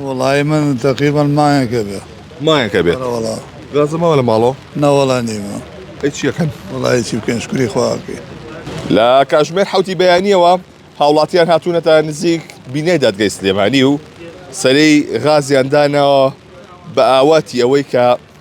وەڵایی من تەقریبەن مایەک ئەبێ. مایەک ئەبێ؟ ئەرە وەڵا. غەزە ماوە لە ماڵەوە؟ نا وەڵا نیمە. ئەی چی ئەکەن؟ وەڵایی چی بکەین شکوری خوا ئەکەین. لە کاتژمێر حەوتی بەیانییەوە هاوڵاتییان هاتوونەتە نزیک بینای دادگای سلێمانی و سەرەی غازیان داناوە بە ئاواتی ئەوەی کە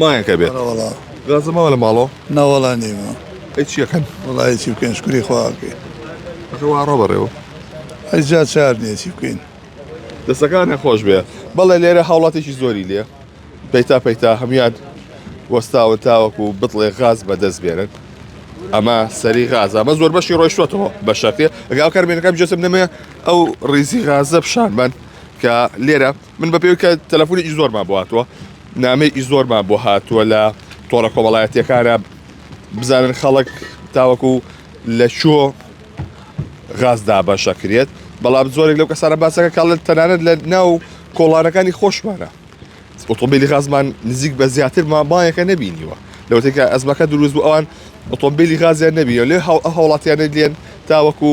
مایەک ئەبێت ئەرە وەڵا گازە ماوە لە ماڵۆ نا وەڵا نیمە ئەی چیەکەن وەڵا هیچی بکەین شکری خوا بکەین ئەخە وا ڕۆ بەڕێوە ئەی جا چار نییە چی بکەین دەستەکانە خۆش بێ بەڵێ لێرە هاوڵاتێکی زۆری لێ پەیتا پەیتا هەموان وەستاون تاوەکو بتڵێ غاز بەدەست بێنن ئەمە سەری غاز ئەمە زۆر بەشی ڕۆیشتوەتەوە بە شەکرێ ئەگاو کارمێنەکەم جەسم نەمێ ئەو ڕیزی غازە پیشانمان کە لێرە من بە پێوکە تەلەفۆنێکی زۆرمان بۆ هاتووە نامەیەکی زۆرمان بۆ هاتووە لە تۆڕە کۆمەڵایەتەکانە بزانن خەڵک تاوەکو لە چۆ غاز دابەشە کرێت بەڵام زۆرێک لەو کەسانە باسەکە کاڵ تەنانەت لە ناو کۆڵانەکانی خۆشمانە ئۆتۆمبیلی غازمان نزیک بە زیاتر مامایەکە نبینیوە لەوتێکە ئەزمەکە دروست بوو ئەوان ئۆتۆمبیلی غازیان نبیە لێ هاوڵاتیانە لێن تاوەکو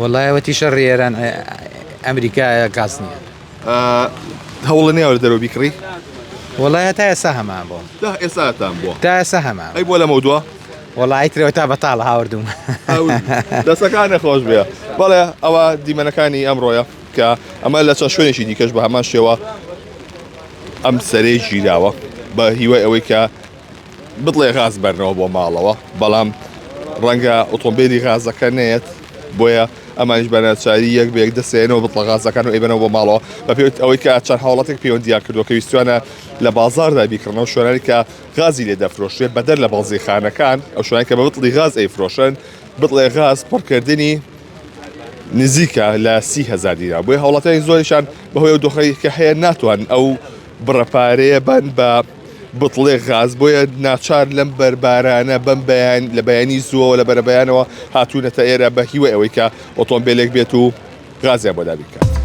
وەڵای وەتی شەڕی ئێران ئەمریکا کاس نییە هەوڵە نێوە دەرەوە بیکڕی وەڵای هەتا ئێستا هەمان بۆ ئێساتان بۆ تا ئێستا هەمان ئەی بۆ لەمە دووە وەڵی ترەوە تا بەتاڵ هاوردوم دەسەکانە خۆش بێ بەڵێ ئەوە دیمەنەکانی ئەمڕۆیە کە ئەمە لە چەند شوێنێکی دیکەش بە هەمان شێوە ئەم سەرێ ژیراوە بە هیوای ئەوەی کە بتڵێ غاز بەرنەوە بۆ ماڵەوە بەڵام ڕەنگە ئۆتۆمبیلی غازەکە نێت بۆیە ئەمانش بەناچاری یەک بەیەک دەسێنەوە بتڵە غازەکان و ئەیبەنەوە بۆ ماڵەوە بە پێوت ئەوەی کە چەند هاوڵاتێک پەیوەندیان کردو کە ویستوانە لە بازاردا بیکڕنەوە شوێنانی کە غازی لێ دەفرۆشرێت بەدەر لە بازی خانەکان ئەو شوێنانی کە بە بتڵی غاز ئەیفرۆشن بتڵێ غاز پڕکردنی نزیکە لە سی هزار دیرا بۆی هاوڵاتیانی زۆریشان بەهۆی ئەو دۆخەی کە هەیە ناتوان ئەو بڕەپارەیە بەن بە بتڵێک غاز، بۆیە ناچار لەم بەر بارانە بەم بەیان لە بەیانی زووەوە لە بەرەبەیانەوە هاتوونەتە ئێرە بە هیوای ئەوەی کە ئۆتۆمبیلێک بێت و غازیان بۆ دابین بکات.